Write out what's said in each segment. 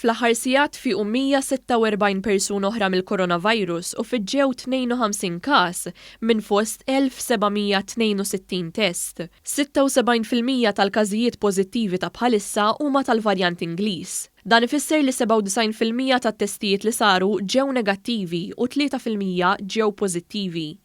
Fl-aħħar sigħat fiequ 146 persuna oħra mill-coronavirus u fiġġew 52 każ minn fost 1,762 test. 76 fil-mija tal-każijiet pożittivi ta' bħalissa huma tal-varjant Ingliż. Dan ifisser li 97 fil-mija tat-testijiet li saru ġew negattivi u tlieta fil-mija ġew pożittivi.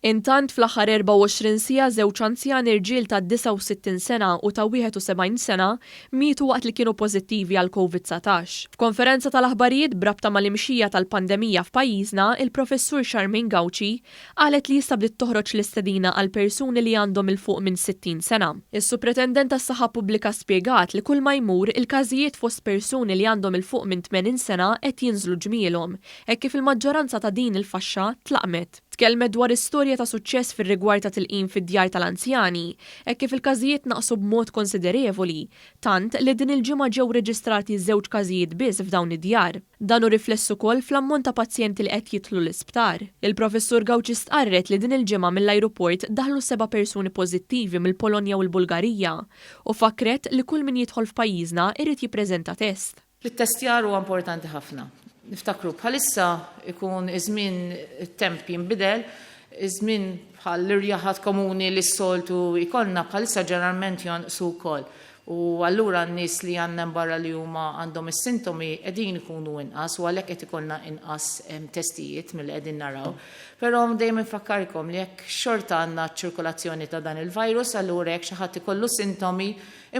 Intant, fl-aħħar 24 siegħa żewġ anzjani rġiel ta' 69 sena u ta' 71 sena mietu waqt li kienu pożittivi għal Covid 19. F'konferenza tal-aħbarijiet b'rabta mal-imxija tal-pandemija f'pajjiżna, il-Professur Charmaine Gauci qalet li issa bdiet toħroġ l-istedina għal persuni li għandhom 'il fuq minn 60 sena. Is-Supretendent tas-Saħħa Pubblika spjegat li kulma jmur, il-każijiet fost persuni li għandhom 'il fuq minn 80 sena qed jinżlu ġmielhom, hekk kif il-maġġoranza ta' din il-faxxa tlaqmet. Tkellmet dwar istorja ta' suċċess fir-rigward ta' tilqim fid-djar tal-anzjani hekk kif il-każijiet naqsu b'mod konsiderevoli, tant li din il-ġimgħa ġew reġistrati żewġ każijiet biss f'dawn id-djar. Dan hu rifless ukoll fl-ammont ta' pazjenti li qed jidħlu l-isptar. Il-Professur Gauci stqarret li din il-ġimgħa mill-ajruport daħlu seba' persuni pożittivi mill-Polonja u l-Bulgarija u fakkret li kull min jidħol f'pajjiżna jrid jippreżenta test. L-ittestjar huwa importanti ħafna. Niftakru, bħalissa ikun iż-żmien it-temp jinbidel, iż-żmien bħal l-irjaħat komuni li s-soltu jkollna bħalissa ġeneralment jonqsu wkoll u allura n-nies li għandna hemm barra li huma għandhom is-sintomi qegħdin ikunu inqas u għalhekk qed ikollna inqas testijiet milli qegħdin naraw. Però dejjem infakkarkom li jekk xorta għandna ċ-ċirkolazzjoni ta' dan il-virus allura jekk xi ħadd ikollu sintomi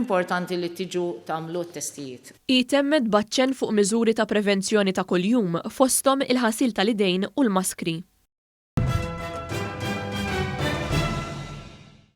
Importanti li tiġu tagħmlu t-testijiet. Hi temmet b'aċċenn fuq miżuri ta' prevenzjoni ta' kuljum, fosthom il-ħasil tal-idejn u l-maskri.